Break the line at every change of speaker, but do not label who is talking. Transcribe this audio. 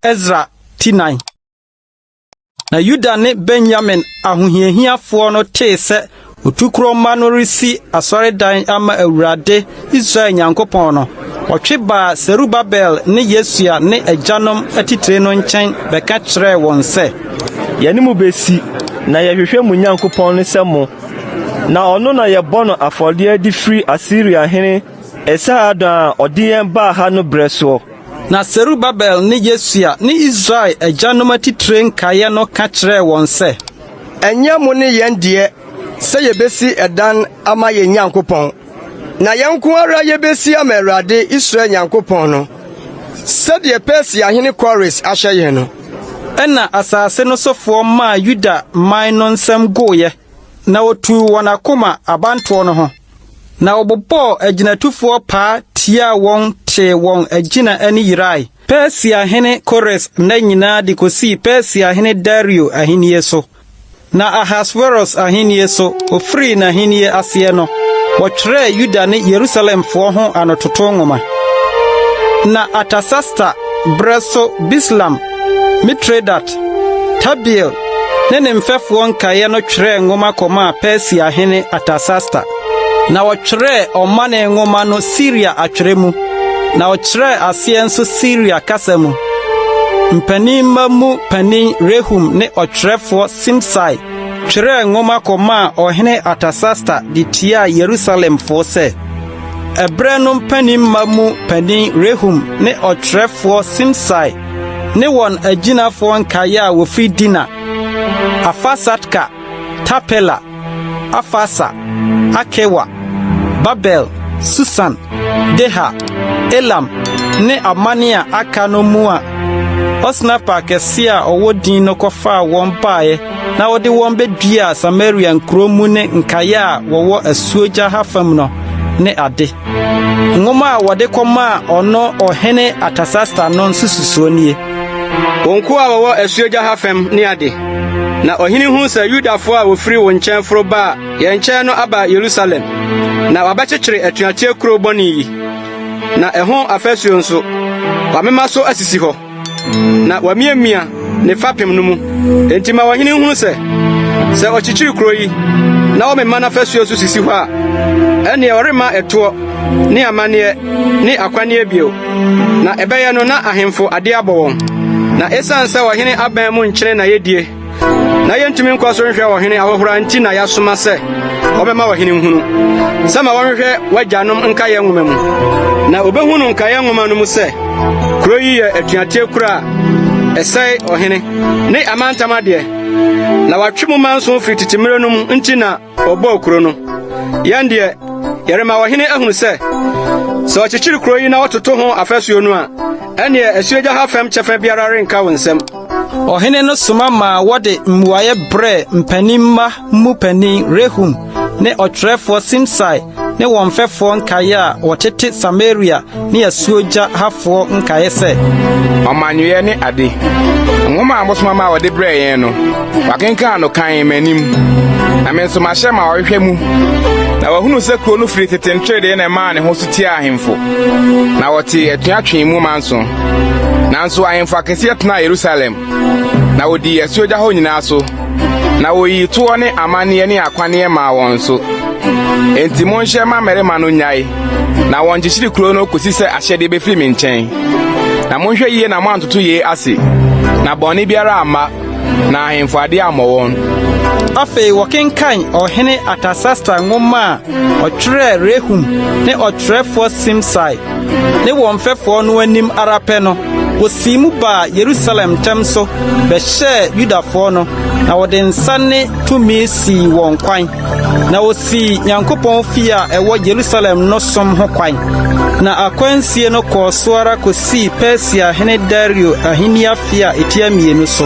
Ezra ti nan. Na Yuda ne Benyamin ahohiahiafoɔ no tee sɛ otukorɔ mma no resi asɔredan ama Awurade Israel Nyankopɔn no, wɔtwe baa Serubabel ne Yesua ne agyanom atitire no nkyɛn bɛka kyerɛɛ wɔn sɛ, Yɛne mo
bɛsi, na yɛhwehwɛ mo Nyankopɔn no sɛ mo Na ɔno na yɛbɔ no afɔdeɛ de firi Asiria hene Esarhaddon a ɔde yɛn baa ha no berɛ soɔ. Na Serubabel
ne Yesua ne Israel agyanom atitire nkaeɛ no ka kyerɛɛ wɔn sɛ. Ɛnyɛ mo
ne yɛn deɛ sɛ yɛbɛsi dan ama yɛn Nyankopɔn. Na yɛn nko ara yɛbɛsi ama Awurade Israel Nyankopɔn no, sɛdeɛ Persiahene Kores ahyɛ yɛn no. Ɛnna
asase no sofoɔ maa Yuda man no nsam gooeɛ, na wɔtuu wɔn akoma abantoɔ no ho, na wɔbobɔɔ agyinatufoɔ paa tiaa wɔn tee wɔn agyina ani yerae, Persiahene Kores nna nyinaa de kɔsii Persiahene Dario ahennie so. Na Ahasweros ahennie so, ɔfirii n'ahennie aseɛ no, wɔtwerɛɛ Yuda ne Yerusalemfoɔ ho anototo nwoma. Na Artasasta berɛ so Bislam, Mitredat, Tabeel ne ne mfɛfoɔ nkaeɛ no twerɛɛ nwoma kɔmaa Persiahene Artasasta. Na wɔtwerɛɛ ɔmane nwoma no Siria atwerɛ mu, na ɔkyerɛɛ aseɛ nso Siria kasa mu. Mpaninmma mu panin Rehum ne ɔtwerɛfoɔ Simsai twerɛɛ nwoma kɔmaa ɔhene Artasasta de tiaa Yerusalemfoɔ sɛ, Ɛberɛ no mpaninmma mu panin Rehum ne ɔtwerɛfoɔ Simsai ne wɔn agyinafoɔ nkaeɛ a wɔfiri Dina, Afasatka, Tarpela, Afarsa, Akewa, Babel, Susan, Deha, Elam, ne aman a aka no mu a Osnaffar akɛseɛ a ɔwɔ din no kɔfaa wɔn baeɛ na ɔde wɔn bɛduaa Samaria nkuro mu ne nkaeɛ a wɔwɔ asuogya ha fam no ne ade. Nwoma a wɔde kɔmaa ɔno Ɔhene Artasasta no nsususoɔ nie. Wo nkoa
a wɔwɔ asuogya ha fam ne ade, na ɔhene hu sɛ Yudafoɔ a wɔfiri wo nkyɛn foro baa yɛn nkyɛn no aba Yerusalem, na wɔabɛkyekyere atuateɛ kuro bɔne yi, na ɛho afasuo nso, wɔamema so asisi hɔ. na wamiamia ne fapem no mu. Enti ma ɔhene nhunu sɛ, sɛ ɔkyekyere kuro yi na ɔmema n'afasu nso sisi hɔ a, ɛnneɛ ɔremma ɛtoɔ ne amanneɛ ne akwanneɛ bio. Na ɛbɛyɛ no na ahemfo ade abɔ wɔn. Na ɛsiane sɛ ɔhene aban mu nkyene na yɛdie na yɛntumi nkɔ so nhwɛ ɔhene ahohora nti na yɛasoma sɛ wɔbɛma ɔhene nhunu sɛ ma wɔnhwɛ w'agyanom nkaeɛ nwoma mu na obɛhu no nkaeɛ nwoma no mu sɛ kuro yi yɛ atuateɛ kuro a ɛsɛe ɔhene ne amantam adeɛ na watwe mu manso firi tete mmerɛ no mu nti na ɔbɔɔ kuro no yɛn deɛ yɛrema ɔhene ahunu sɛ sɛ ɔkyekyere kuro yi na ɔtoto ho afasuo no a ɛneɛ asuogya ha fam kyɛfa biara renka wo nsam Ɔhene no
soma maa wɔde mmuaeɛ brɛɛ mpanin mma mu panin Rehum ne ɔtwerɛfoɔ Simsai ne wɔn mfɛfoɔ nkaeɛ a wɔtete Samaria ne asuogya hafoɔ nkaeɛ sɛ, Ɔmanyɔeɛ
ne ade. Nwoma a mosoma ma wɔde brɛɛ yɛn no, wɔakenkan no kan m'anim, na me nso mahyɛ ma wɔhwehwɛ mu. Na wɔahunu sɛ kurow no firi tete nteredee na ɛmaa ne ho so tiaa ahemfo, na wɔtee atua twee mu manso. Nanso ahemfo akɛseɛ tenaa Yerusalem, na wɔdii asuogya hɔ nyinaa so, na wɔyii toɔ ne amanneɛ ne akwanneɛ maa wɔn nso. Enti monhyɛ mmammarima no nnyae, na wɔnkyekyere kuro no kɔsi sɛ ahyɛdeɛ bɛfiri me nkyɛn. Na monhwɛ yie na moantoto yei ase, na bɔne biara amma, na ahemfo adeɛ ammɔ wɔn. Afei
wɔkenkan ɔhene Artasasta nwoma a ɔtwerɛɛ Rehum ne ɔtwerɛfoɔ Simsai ne wɔn mfɛfoɔ no anim ara pɛ no, wɔsii mu baa Yerusalem ntɛm so bɛhyɛɛ Yudafoɔ no, na wɔde nsa ne tumi sii wɔn kwan. Na wɔsii Nyankopɔn fie a ɛwɔ Yerusalem no som ho kwan. Na akwansie no kɔɔ so ara kɔsii Persia hene Dario ahenni afe a ɛtia mmienu so.